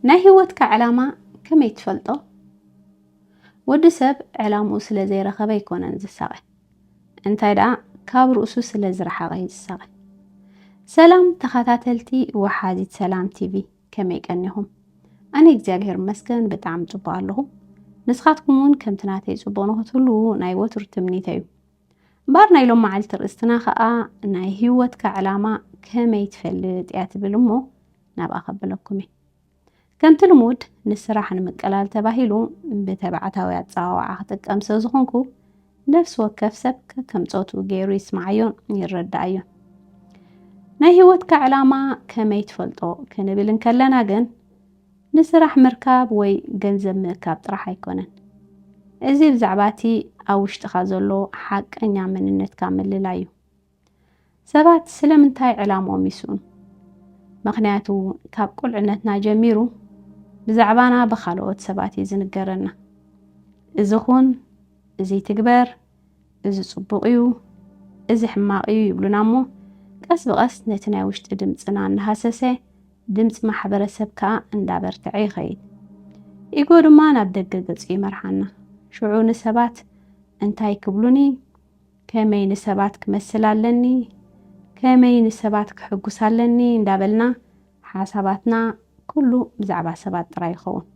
ናይ ህይወትካ ዕላማ ከመይ ትፈልጦ? ወዲ ሰብ ዕላምኡ ስለ ዘይረኸበ ኣይኮነን ዝሳቐ፣ እንታይ ደኣ ካብ ርእሱ ስለ ዝረሓቐ እዩ ዝሳቐ። ሰላም ተኸታተልቲ ወሓዚት ሰላም ቲቪ ከመይ ቀኒኹም? ኣነ እግዚኣብሔር ይመስገን ብጣዕሚ ጽቡቕ ኣለኹ። ንስኻትኩም እውን ከምቲ ናተይ ጽቡቕ ንኽትህልዉ ናይ ወትሩ ትምኒተይ እዩ። እምበኣር ናይ ሎም መዓልቲ ርእስትና ከኣ ናይ ህይወትካ ዕላማ ከመይ ትፈልጥ እያ ትብል እሞ ናብኣ ከብለኩም እየ። ከምቲ ልሙድ ንስራሕ ንምቅላል ተባሂሉ ብተባዕታዊ ኣጸዋውዓ ክጥቀም ስለ ዝኾንኩ ነፍሲ ወከፍ ሰብ ከከም ጾቱ ገይሩ ይስምዓዮን ይረዳኣዮን። ናይ ህይወትካ ዕላማ ከመይ ትፈልጦ ክንብል እንከለና ግን ንስራሕ ምርካብ ወይ ገንዘብ ምእካብ ጥራሕ ኣይኮነን። እዚ ብዛዕባ እቲ ኣብ ውሽጥኻ ዘሎ ሓቀኛ መንነትካ ምልላይ እዩ። ሰባት ስለምንታይ ዕላምኦም ይስእኑ? ምኽንያቱ ካብ ቁልዕነትና ጀሚሩ ብዛዕባና ብኻልኦት ሰባት እዩ ዝንገረና። እዚ ኹን፣ እዚ ትግበር፣ እዚ ጽቡቕ እዩ፣ እዚ ሕማቕ እዩ ይብሉና እሞ ቀስ ብቐስ ነቲ ናይ ውሽጢ ድምጽና እናሃሰሰ ድምጺ ማሕበረሰብ ከኣ እንዳበርትዐ ይኸይድ። ኢጎ ድማ ናብ ደገ ገጹ ይመርሓና። ሽዑ ንሰባት እንታይ ክብሉኒ፣ ከመይ ንሰባት ክመስል ኣለኒ፣ ከመይ ንሰባት ከሕጉስ ኣለኒ እንዳበልና ሓሳባትና ኩሉ ብዛዕባ ሰባት ጥራይ ይኸውን።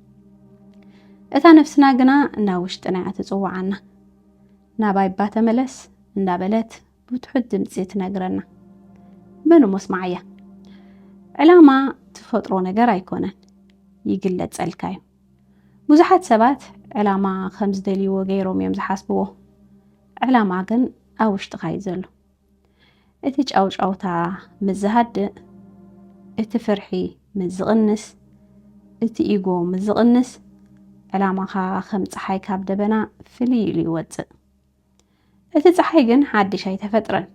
እታ ነፍስና ግና ናብ ውሽጥና እያ ትጽውዓና። ናባይ እባ ተመለስ እንዳበለት ብትሑት ድምፂ ትነግረና መን እሞ ስማዓያ ዕላማ ትፈጥሮ ነገር ኣይኮነን ይግለፀልካ እዩ ብዙሓት ሰባት ዕላማ ከም ዝደልይዎ ገይሮም እዮም ዝሓስብዎ ዕላማ ግን ኣብ ውሽጥኻ እዩ ዘሎ እቲ ጫውጫውታ ምስ ዝሃድእ እቲ ፍርሒ ምስ ዝቕንስ እቲ ኢጎ ምስ ዝቕንስ ዕላማኻ ከም ፀሓይ ካብ ደበና ፍልይ ኢሉ ይወፅእ እቲ ፀሓይ ግን ሓድሽ ኣይተፈጥረን፣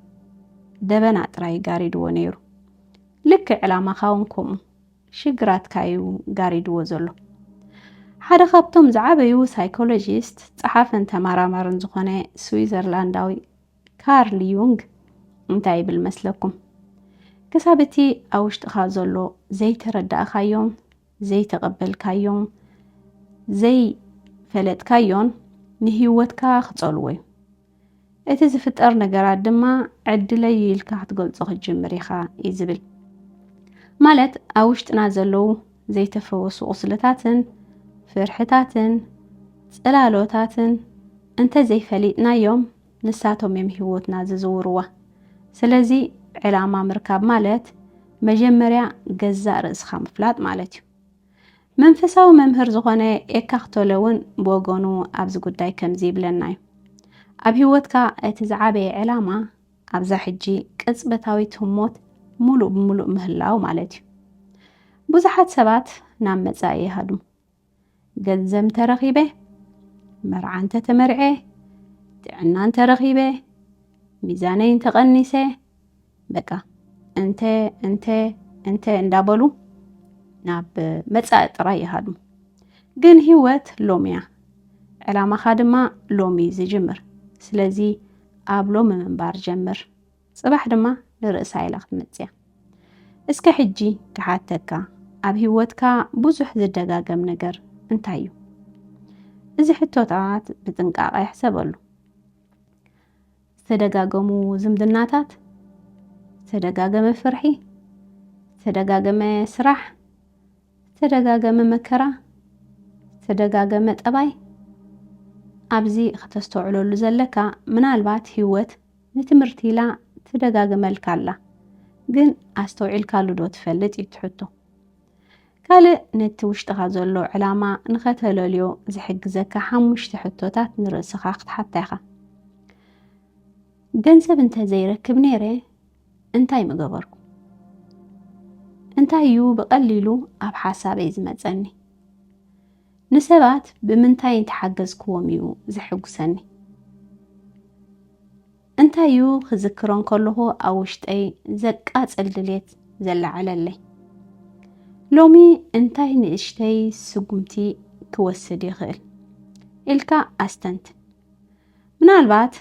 ደበና ጥራይ ጋሪድዎ ነይሩ። ልክዕ ዕላማኻ እውን ከምኡ ሽግራትካ እዩ ጋሪድዎ ዘሎ። ሓደ ካብቶም ዝዓበዩ ሳይኮሎጂስት ጸሓፍን ተመራማርን ዝኾነ ስዊዘርላንዳዊ ካርል ዩንግ እንታይ ይብል መስለኩም? ክሳብ እቲ ኣብ ውሽጥኻ ዘሎ ዘይተረዳእካዮም ዘይተቐበልካዮን ዘይፈለጥካዮን ንህይወትካ ክጸልዎ እዩ። እቲ ዝፍጠር ነገራት ድማ ዕድለይ እዩ ኢልካ ክትገልጾ ክትጅምር ኢኻ እዩ ዝብል። ማለት ኣብ ውሽጥና ዘለዉ ዘይተፈወሱ ቁስልታትን ፍርሕታትን ጽላሎታትን እንተ ዘይፈሊጥናዮም ንሳቶም እዮም ህይወትና ዝዝውርዋ። ስለዚ ዕላማ ምርካብ ማለት መጀመርያ ገዛእ ርእስኻ ምፍላጥ ማለት እዩ። መንፈሳዊ መምህር ዝኾነ ኤካክ ቶለ እውን ብወገኑ ኣብዚ ጉዳይ ከምዚ ይብለና እዩ። ኣብ ህይወትካ እቲ ዝዓበየ ዕላማ ኣብዛ ሕጂ ቅጽበታዊት ህሞት ሙሉእ ብሙሉእ ምህላው ማለት እዩ። ብዙሓት ሰባት ናብ መጻኢ ይሃድሙ። ገንዘብ እንተረኺበ፣ መርዓ እንተተመርዔ፣ ጥዕና እንተረኺበ፣ ሚዛነይ እንተቐኒሰ፣ በቃ እንተ እንተ እንተ እንዳበሉ ናብ መጻኢ ጥራይ ይሃድሙ ግን ህይወት ሎሚ እያ ዕላማኻ ድማ ሎሚ እዩ ዝጅምር ስለዚ ኣብ ሎሚ ምንባር ጀምር ጽባሕ ድማ ንርእሳ ኢላ ክትመጽእያ። እስከ ሕጂ ክሓተካ ኣብ ሂወትካ ብዙሕ ዝደጋገም ነገር እንታይ እዩ? እዚ ሕቶታት ብጥንቃቐ ሕሰበሉ። ዝተደጋገሙ ዝምድናታት፣ ዝተደጋገመ ፍርሒ፣ ዝተደጋገመ ስራሕ፣ ዝተደጋገመ መከራ፣ ዝተደጋገመ ጠባይ ኣብዚ ከተስተውዕለሉ ዘለካ ምናልባት ሂወት ንትምህርቲ ኢላ ትደጋግመልካ ኣላ ግን ኣስተውዒልካሉ ዶ ትፈልጥ እዩ እቲ ሕቶ። ካልእ ነቲ ውሽጥኻ ዘሎ ዕላማ ንኸተለልዮ ዝሕግዘካ ሓሙሽተ ሕቶታት ንርእስኻ ክትሓታ ኢኻ። ገንዘብ እንተ ዘይረክብ ነይረ እንታይ ምገበርኩ? እንታይ እዩ ብቐሊሉ ኣብ ሓሳበይ ዝመጸኒ? ንሰባት ብምንታይ እንተ ሓገዝክዎም እዩ ዘሐጕሰኒ? እንታይ እዩ ክዝክሮ እንከለኹ ኣብ ውሽጠይ ዘቃጽል ድሌት ዘለዓዕለለይ? ሎሚ እንታይ ንእሽተይ ስጕምቲ ክወስድ ይኽእል? ኢልካ ኣስተንትን። ምናልባት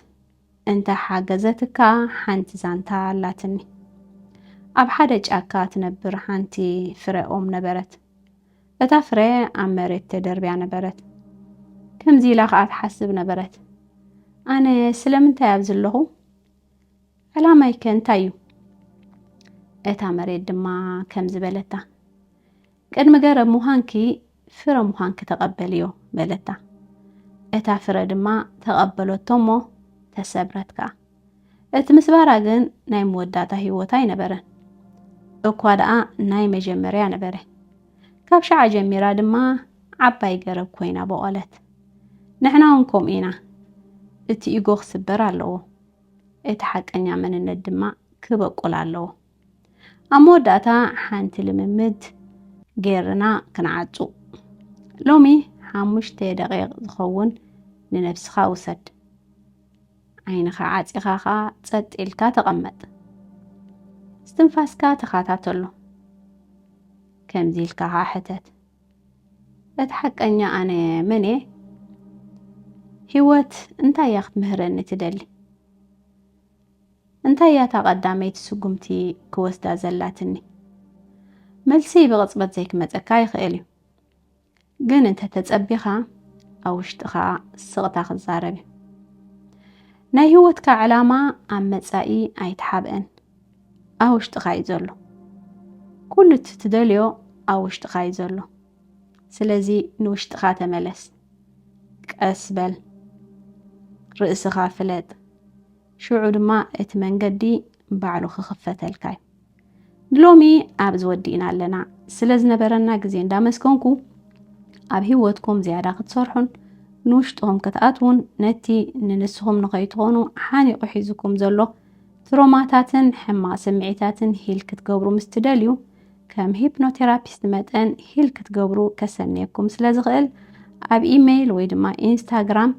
እንተ ሓገዘትካ ሓንቲ ዛንታ ኣላትኒ። ኣብ ሓደ ጫካ ትነብር ሓንቲ ፍረ ኦም ነበረት። እታ ፍረ ኣብ መሬት ተደርብያ ነበረት። ከምዚ ኢላ ኸኣ ትሓስብ ነበረት፣ ኣነ ስለምንታይ ኣብዚ ኣለኹ? ዕላማይከ እንታይ እዩ? እታ መሬት ድማ ከምዚ በለታ፣ ቅድሚ ገረብ ምዃንኪ ፍረ ምዃንኪ ተቐበልዮ በለታ። እታ ፍረ ድማ ተቐበለቶ እሞ ተሰብረት ከኣ። እቲ ምስባራ ግን ናይ መወዳእታ ህይወት ኣይነበረን። እኳ ደኣ ናይ መጀመርያ ነበረ። ካብ ሸዓ ጀሚራ ድማ ዓባይ ገረብ ኮይና ቦቐለት። ንሕና እውን ከምኡ ኢና። እቲ ኢጎ ክስበር ኣለዎ። እቲ ሓቀኛ መንነት ድማ ክበቁል ኣለዎ። ኣብ መወዳእታ ሓንቲ ልምምድ ገይርና ክንዓጹ። ሎሚ ሓሙሽተ ደቂቕ ዝኸውን ንነብስኻ ውሰድ። ዓይንኻ ዓጺኻ ኸኣ ጸጥ ኢልካ ተቐመጥ። እስትንፋስካ ተኸታተሎ። ከምዚ ኢልካ ኸኣ ሕተት፣ እቲ ሓቀኛ ኣነ መን እየ? ህይወት እንታይ እያ ክትምህረኒ ትደሊ? እንታይ እያ እታ ቀዳመይቲ ስጉምቲ ክወስዳ ዘላትኒ? መልሲ ብቕጽበት ዘይክመጸካ ይኽእል እዩ፣ ግን እንተ ተጸቢኻ ኣብ ውሽጥኻ ስቕታ ክዛረብ እዩ። ናይ ህይወትካ ዕላማ ኣብ መጻኢ ኣይተሓብእን፣ ኣብ ውሽጥኻ እዩ ዘሎ። ኩሉ እቲ ትደልዮ ኣብ ውሽጥኻ እዩ ዘሎ። ስለዚ ንውሽጥኻ ተመለስ። ቀስ በል ርእስኻ ፍለጥ ሽዑ ድማ እቲ መንገዲ ባዕሉ ክኽፈተልካ እዩ ንሎሚ ኣብዚ ወዲእና ኣለና ስለ ዝነበረና ግዜ እንዳመስገንኩ ኣብ ህይወትኩም ዝያዳ ክትሰርሑን ንውሽጥኹም ክትኣትውን ነቲ ንንስኹም ንኸይትኾኑ ሓኒቑ ሒዙኩም ዘሎ ትሮማታትን ሕማቕ ስምዒታትን ሂል ክትገብሩ ምስ ትደልዩ ከም ሂፕኖቴራፒስት መጠን ሂል ክትገብሩ ከሰንየኩም ስለ ዝኽእል ኣብ ኢመይል ወይ ድማ ኢንስታግራም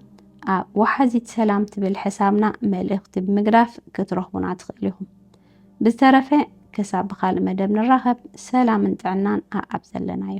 ኣብ ወሓዚት ሰላም ትብል ሕሳብና መልእኽቲ ብምግዳፍ ክትረኽቡና ትኽእሉ ኢኹም። ብዝተረፈ ክሳብ ብካልእ መደብ ንራኸብ ሰላምን ጥዕናን ኣኣብ ዘለናዮ።